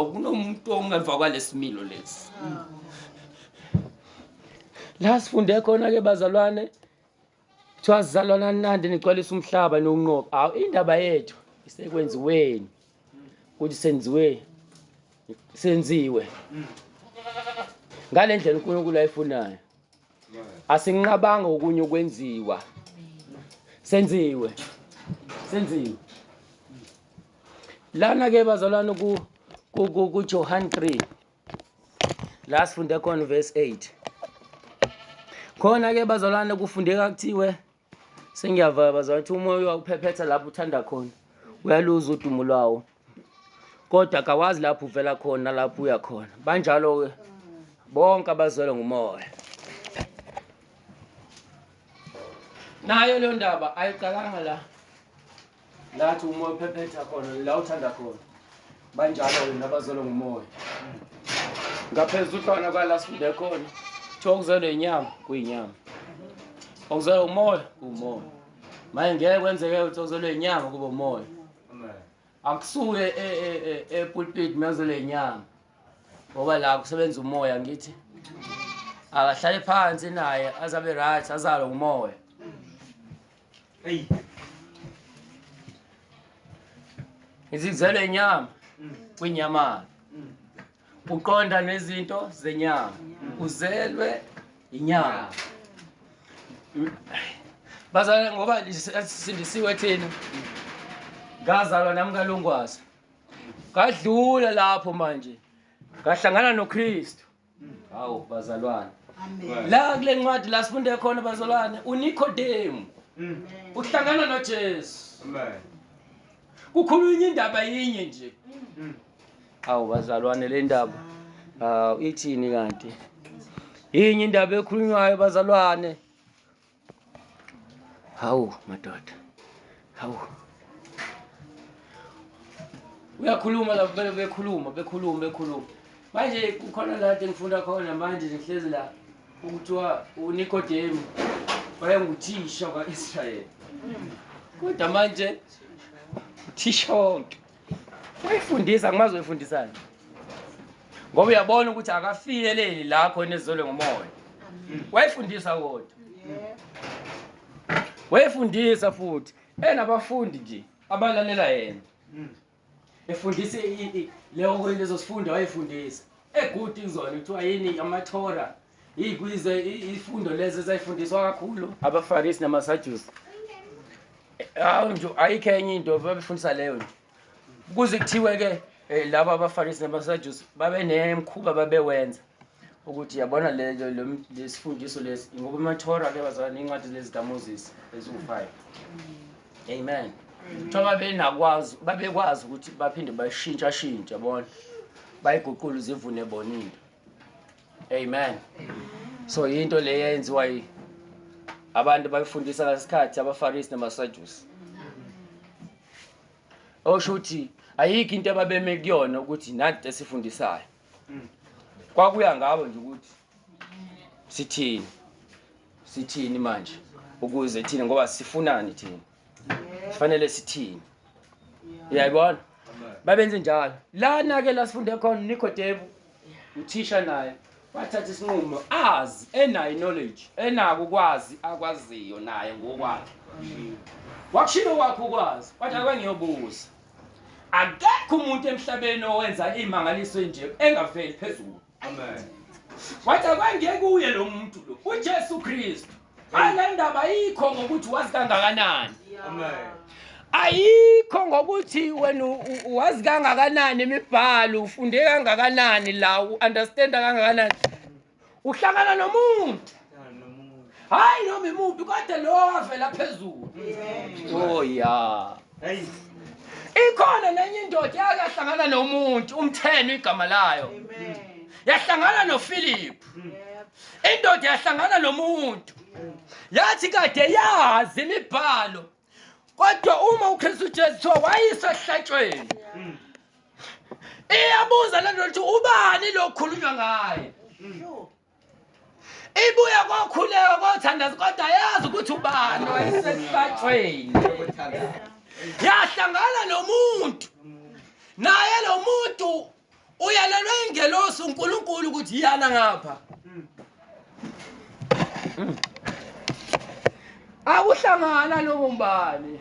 Akunomuntu ongemva kwalesimilo lesi. La sifunde khona ke bazalwane. Kuthiwa sizalwana nandi nigcwalisa umhlaba nokunqoba. Hawu indaba yethu isekwenziweni. Ukuthi senziwe senziwe. Ngalendlela uNkulunkulu ayifunayo. asinqabanga okunye ukwenziwa senziwe senziwe lana ke bazalwane ku ku ku Johan 3 la sifunde khona verse 8 khona ke bazalwane kufundeka kuthiwe Sengiyavaya bazali ukuthi umoya uyawuphephetha lapho uthanda khona uyaluza udumo lwawo kodwa kawazi lapho uvela khona lapho uya khona banjalo-ke bonke abazwelwe ngumoya nayo leyo ndaba ayiqalanga la Ngathi umoya uphephetha khona la uthanda khona. Banjalo wena abazolo ngumoya. Ngaphezulu khona kwala sifunde khona. Kuthiwa okuzelwe inyama kuyinyama. Okuzelwe umoya kuwumoya. Manje ngeke kwenzeke ukuthi okuzelwe inyama kube umoya. Akusuke e, e, e, epulpit mezele inyama. Ngoba la kusebenza umoya ngithi. Akahlale phansi naye azabe right azalo ngumoya. Hey. Izizelo inyama kwinyama. Uqonda nezinto zenyama. Uzelwe inyama. Bazalwane ngoba sindisiwe thina. Ngazalwa nami kalungwazi. Ngadlula lapho manje. Ngahlangana noKristu. hawu bazalwane la kule ncwadi la sifunde khona bazalwane unikodemu mm. uhlangana nojesu kukhulunywa indaba yinye nje mm. hawu bazalwane le ndaba hawu ithini kanti yinye indaba ekhulunywayo bazalwane Hawu madoda. Hawu. Uyakhuluma la vele bekhuluma bekhuluma bekhuluma. Manje kukhona la engifunda khona manje ngihlezi la ukuthiwa uNikodemu wayenguthisha kwa-Israyeli. Kodwa manje uthisha wonke. wayifundisa ngimazi wayifundisani ngoba uyabona ukuthi akafinyeleli la khona ezolwe ngomoya wayifundisa kodwa wayifundisa futhi enabafundi nje abalalela yena efundisa i- i- leyo lezo sifundo wayefundisa egudi kuzona kuthiwa yini amathora Iy'kwize iy'fundo lezi ezayifundiswa kakhulu abaFarisi namaSadusi. Hawu nje ayikho enye into babefundisa leyo nje. Kuze kuthiwe-ke eh, laba abaFarisi namaSadusi babenemkhuba babewenza ukuthi yabona lesifundiso lesi ngoba amathora ke bazalwane iy'ncwadi lezi zikaMoses eziwu-five. Amen. Kuthiwa babenakwazi babekwazi ukuthi baphinde bashintshashintshe yabona bayiguqule zivune bona into. Amen. So yinto le yenziwa yi abantu bayifundisa ngesikhathi abaFarisi namaSadusi. Osho ukuthi ayikho into ababeme kuyona ukuthi nanti esifundisayo. Kwakuya ngabo nje ukuthi sithini. Sithini manje ukuze thina ngoba sifunani thina. sifanele sithini uyayibona babenze njalo lana ke la sifunde khona nikodemu uthisha naye wathatha isinqumo azi enayo knowledge enako ukwazi akwaziyo naye ngokwakhe wakushilo kwakhe ukwazi wathi akwengiyobuza akekho umuntu emhlabeni owenza iy'mangaliso enje engaveli phezulu Amen. Wathi akwangeke kuye lo muntu lo. UJesu Kristu. Hayi le ndaba ayikho ngokuthi wazi kangakanani. Amen. Ayikho ngokuthi wena wazi kangakanani imibhalo, ufunde kangakanani la, u-understand kangakanani. Uhlangana nomuntu. hayi noma imuphi kodwa lo wavela phezulu oh ya ikhona nenye indoda yake yahlangana nomuntu umtheno igama layo yahlangana nophilip indoda yahlangana nomuntu yathi kade yazi imibhalo kodwa uma ukristu jesu kuthiwa wayiswa ehlatshweni iyabuza le ndoda ukuthi ubani lo kukhulunywa ngaye ibuye kokhuleka kothandaza kodwa yazi ukuthi ubani wayesesibajweni yahlangana nomuntu naye lo muntu uyalelwe ingelosi unkulunkulu ukuthi iyana ngapha akuhlangana lobo mbani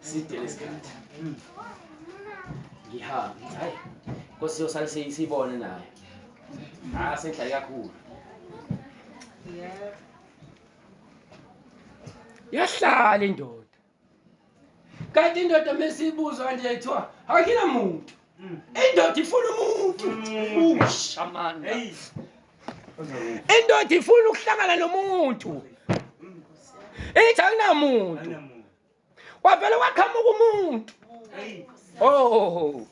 side lesikhathi ngihamba ngithi hayi nkosi yosale siyi- siyibone nayo ah sengihlale kakhulu yahlala indoda kanti indoda mesiyibuza kanje yayithiwa akina muntu indoda ifuna umuntu usha manje hey indoda ifuna ukuhlangana nomuntu ithi akunamuntu wavele waqhamuka umuntu oh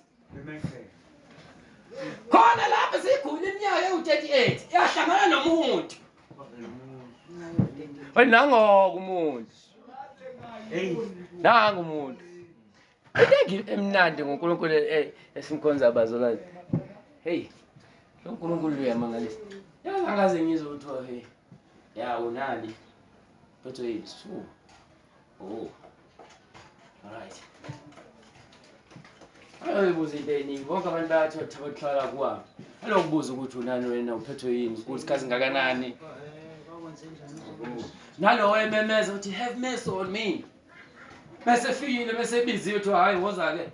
khona lapho sigula iminyaka ewu-38 yahlangana nomuntu nangoke umuntu nangu umuntu Into emnandi ngoNkulunkulu eh, eh, esimkhonza bazalwane. Hey. Lo Nkulunkulu uyamangalisa. Yazi angaze ngizwe ukuthi oh, hey. Ya unani. Phethwe yini? Su. Oh. Alright. Ayobuza into eningi. Bonke abantu bayathi othabathwala kwami. Alokubuza ukuthi unani wena uphethwe yini? Ukuthi kazi ngakanani? Nalowo ememeza uthi have mercy on me. bese fikile bese biziwe kuthiwa hhayi woza ke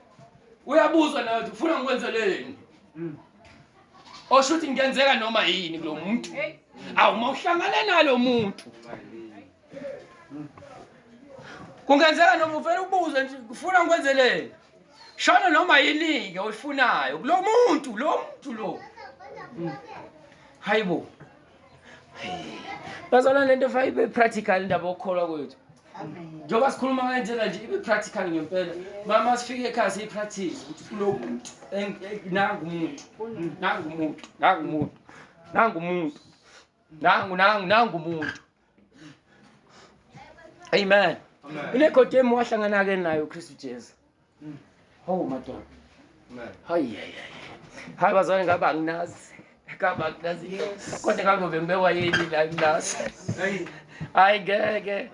uyabuzwa nawe ukuthi ufuna ngikwenzeleni mm. osho ukuthi ngenzeka noma yini kulo muntu awu uma uhlangane nalo muntu kungenzeka noma uvele ubuze nje ufuna ngikwenzeleni shona noma yini-ke oyifunayo kulo muntu lo muntu lo mm. hayi bo bazalwane le nto fayibe practical indaba okukholwa kwethu njengoba sikhuluma ngale ndlela nje ibe practical ngempela mama sifike ekhaya siyi-practice ukuthi kunomuntu nangu umuntu nangu umuntu nangu umuntu nangu umuntu nangu nangu nangu umuntu amen inegodemu wahlangana-ke nayo ukristu jesu Hawu madoda. Hayi hayi. Hayi bazwane ngabe anginazi. Ngabe anginazi. Kodwa kangobe ngibekwa yini la nginazi. Hayi ngeke.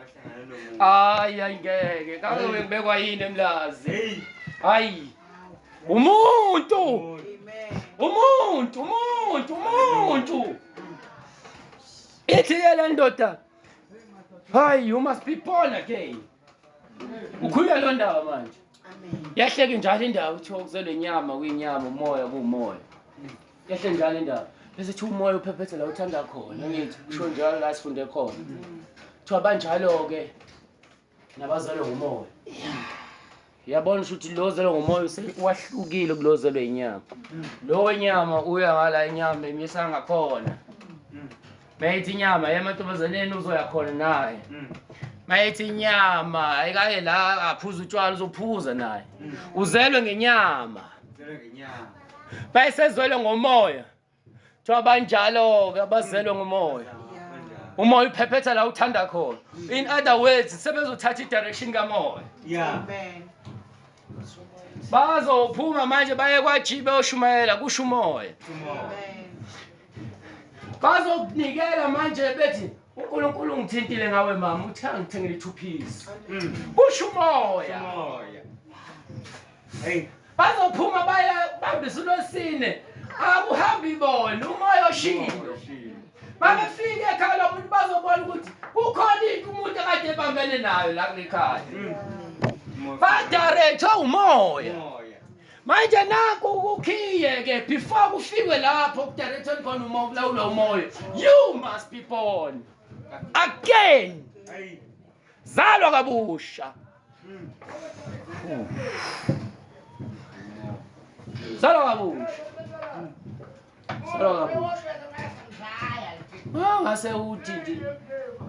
Hayi hayi ngeke. Kangobe ngibekwa yini emlazi. Hayi. Umuntu. Umuntu, umuntu, umuntu. Ithi ke le ndoda. Hayi, you must be born again. ukhululeke lo ndaba manje yahleke njalo indawo kuthiwa kuzelwe inyama kuyinyama umoya kuwumoya yahle njalo indawo bese kuthiwa umoya uphephethe la uthanda khona ngithi kusho njalo la sifunde khona kuthiwa banjalo-ke nabazalwe ngumoya Yabona ukuthi lo zelwe ngomoya wahlukile kulo zelwe inyama. Lo wenyama uya ngala inyama emisa ngakhona. Mayithi inyama yemantombazaneni uzoya khona naye. Mayithi inyama ayikaye la aphuza utshwala uzophuza naye. Uzelwe ngenyama. Uzelwe ngenyama. Bayisezwele ngomoya. kuthiwa banjalo-ke abazelwe ngumoya umoya uphephetha la uthanda khona in other words sebezothatha i-direction kamoya bazophuma manje baye kwaji beyoshumayela kusho umoya bazokunikela manje bethi unkulunkulu ungithintile ngawe mama uthe angithengele ithuphisi kusho umoya hey bazophuma baye bambisa uLwesine akuhambi bona umoya oshilo babefike ekhaya lomuntu bazobona ukuthi kukhona into umuntu akade ebambene nayo la kulekhaya mm. badirethwe umoya manje naku kukhiye ke before kufikwe lapho kudirethweni khona uma ukulawula umoya you must be born again zalwa kabusha Salo kabusha. Salo kabusha. Ah, ngase uthi nje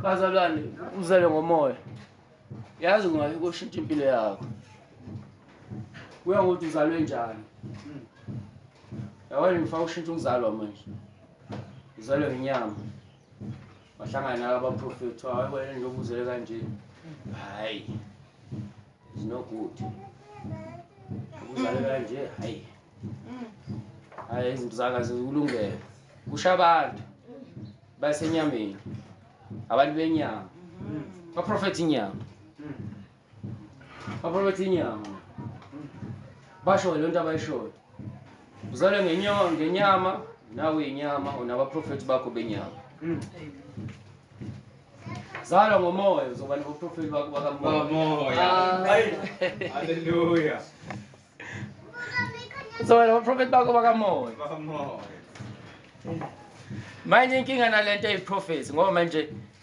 bazalwane uzele ngomoya. Yazi ungayi koshintsha impilo yakho. Kuya ngokuthi uzalwe njani. Yabona ngifuna ushintsha ukuzalwa manje. Uzalwe ngenyama. wahlangana nabo abaprofethi wawebona nje obuzele kanje hayi is no good ubuzale kanje hayi hayi izinto zaka zikulungele kusha abantu basenyameni abantu benyama baprofethi inyama Baphakathi inyama. Basho lento abayishoyo. Uzalwe ngenyama ngenyama nawe inyama unabaprofeti bakho benyama. Mm. Zalwa ngomoya uzoba nobuprofeti bakho bakamoya. Hallelujah. Uzoba nobuprofeti bakho bakamoya. Bakamoya. Manje inkinga nalento eyiprofeti ngoba manje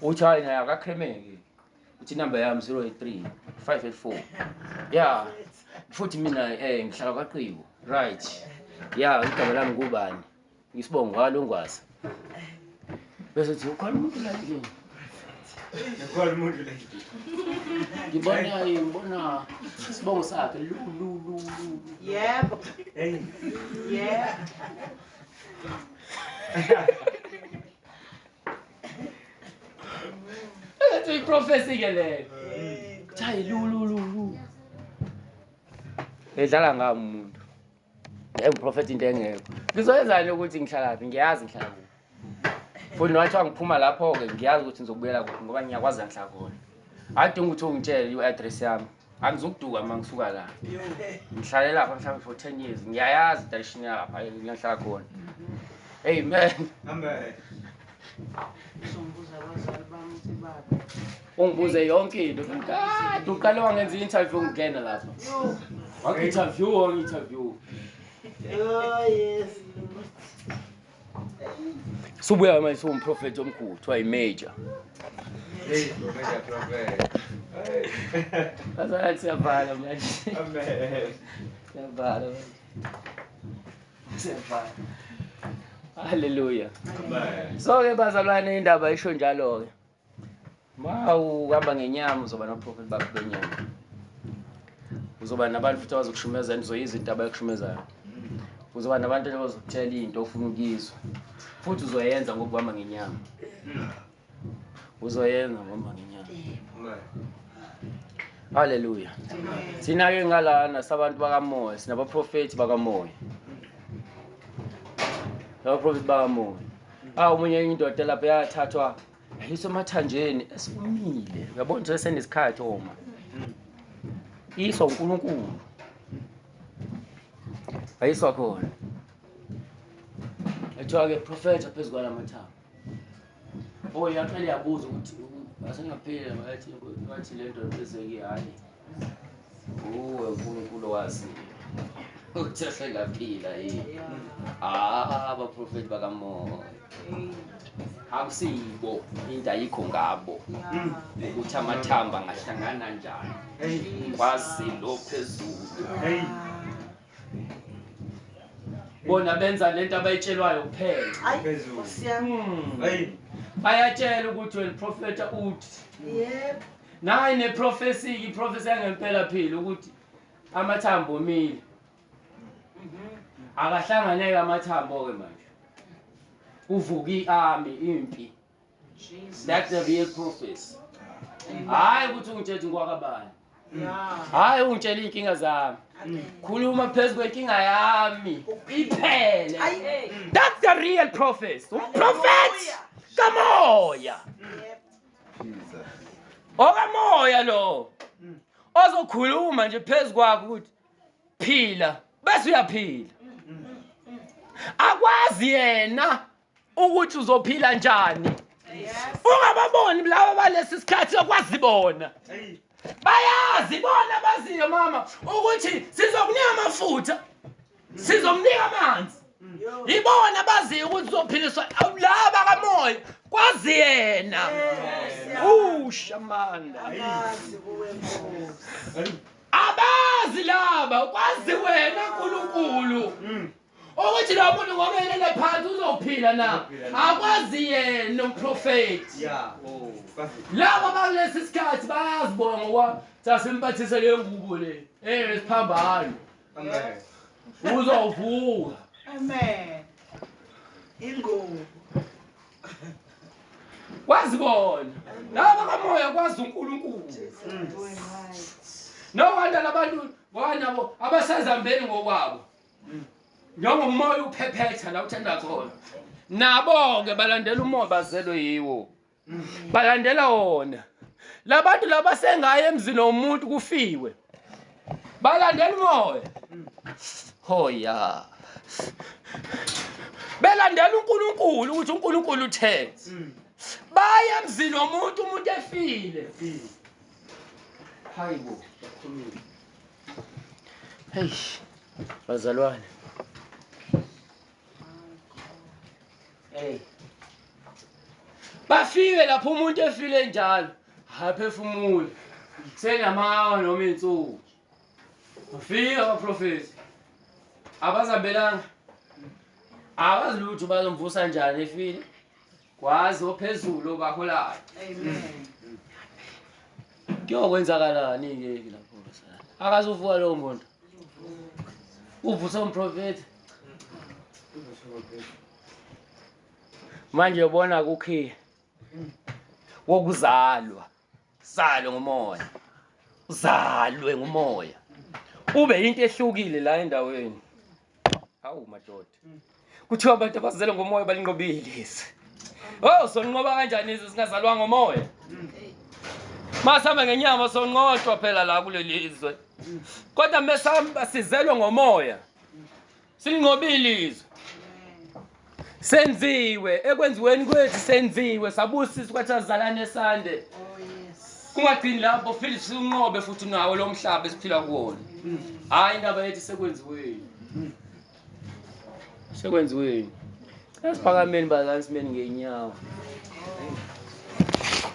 uthi hayi naye akakhemeki uthi inumber yami 083 584 ya futhi mina um ngihlala kwaqibo right ya igama lami kubani ngisibongo walo ngwazi bese uthi ukhona umuntu la endlini Ngikhola umuntu la. Ngibona ngibona sibongo sakhe lu lu lu lu. Yebo. Hey. Yebo. Engathi uyiprofesi ke leyo. Kuthiwa lulululu. Edlala ngami umuntu. Engiprofethi into engekho. Ngizoyenzani ukuthi ngihlala phi? Ngiyazi ngihlala kuphi. Futhi nowathiwa ngiphuma lapho-ke ngiyazi ukuthi ngizobuyela kuphi ngoba ngiyakwazi ngihlala khona. Adinga ukuthi ungitshele i-address yami angizokuduka uma ngisuka la ngihlale lapha mhlawumbe for ten years ngiyayazi idayishini yalapha ngihlala khona amen amen ungibuze yonke into kade uqale wangenza i-interview ngingena lapha wangi-interview wangi-interview oh, Subuya manje siwumprofethi omkhulu kuthiwa yi-major. Bazalwane siyavala manje. Siyavala manje. Siyavala. Hallelujah. So-ke bazalwane indaba isho njalo-ke. Mawu uhamba ngenyama uzoba noprofit bakho benyama. Uzoba nabantu futhi abazokushumeza nizoya izinto abayokushumezayo. Uzoba nabantu abazokutshela into ofuna ukuyizwa. Futhi uzoyenza ngokuhamba ngenyama. Uzoyenza ngokuhamba ngenyama. Hallelujah. Thina ke ngalana sabantu bakamoya, sinabaprofeti bakamoya. Abaprofeti bakamoya. ah umunye enye indoda lapho yathathwa yayiswa emathanjeni esikumile uyabona ukuthi senesikhathi oma iswa unkulunkulu ayiswa khona ethiwa-ke profetha phezu kwala mathambo o yaqale yabuza ukuthi asengapheli ngathi le nto esekihayi uwe uNkulunkulu owaziyo ukuthi asengaphila yini ah abaprofeti bakamoya akusiyibo into ayikho ngabo ukuthi amathamba angahlangana njani kwazi lo phezulu bona benza lento abayitshelwayo kuphela Ayi, Phezulu. Nkosi yami. Hmm. Hey. bayatshelwa ukuthi wena profeta uthi Yebo. Nayi neprofesiki, iprofesi yangempela phila ukuthi amathambo omile. Akahlanganeke amathambo-ke manje. Kuvuka i-army, impi. That's the real prophecy. Hhayi ukuthi ungitshela ngikwakabani. Hhayi ungitshela iy'nkinga zami. Khuluma phezu kwenkinga yami. Iphele. That's the real prophecy. Umprofethi kamoya. okamoya lo ozokhuluma nje phezu kwakho ukuthi phila bese uyaphila akwazi yena ukuthi uzophila njani ungababoni laba balesi sikhathi okwazi bona bayazi bona baziyo mama ukuthi sizokunika amafutha sizomnika amanzi ibona baziyo ukuthi uzophiliswa laba kamoya kwazi yena ushamanda abazi laba kwazi wena nkulunkulu mm. ukuthi lo muntu ngokelele phansi uzophila na akwazi yena umprofethi oh, labo bakulesi sikhathi bayazibona ngokwami sasimphathise le ngubo le eyesiphambano uzovuka amen ingubo kwazi bona laba kamoya kwazi uNkulunkulu no wanda labantu ngoba nabo abasazambeni ngokwabo njengoba umoya uphephetha la uthanda khona nabo-ke balandela umoya bazelwe yiwo balandela wona labantu laba sengaye emzini womuntu kufiwe balandela umoya hoya belandela uNkulunkulu ukuthi uNkulunkulu utheni mm. baye emzini womuntu umuntu efile mm. hayibo Eish. Bazalwane. Hey. Bafike lapho umuntu efile njalo. Haphefumule. Senamawa noma insuku. Bafike abaprofeti. Abazabelanga. Abazi lutho bazomvusa njani efile. Kwazi ophezulu obaholayo. Amen. Kuyokwenzakalani ke lapho sana? Akazuvuka lowo muntu. Uvusa umprofeti. Manje yobona kukhiya wokuzalwa Salwe ngumoya. Uzalwe ngumoya. Ube into ehlukile la endaweni. Hawu madoda. Kuthiwa abantu abazele ngomoya balinqobile lezi. Oh, sonqoba kanjani izwe singazalwa ngomoya? Masihamba ngenyama sonqotshwa phela la kuleli izwe. Kodwa mesihamba sizelwe ngomoya. Sinqobile izwe. Senziwe ekwenziweni kwethu senziwe sabusiswa kwathi azalane sande. Kungagcini lapho futhi sinqobe futhi nawo lo mhlaba esiphila kuwona. Hayi indaba yethu sekwenziweni. Sekwenziweni. Esiphakameni bazansimeni ngenyawo.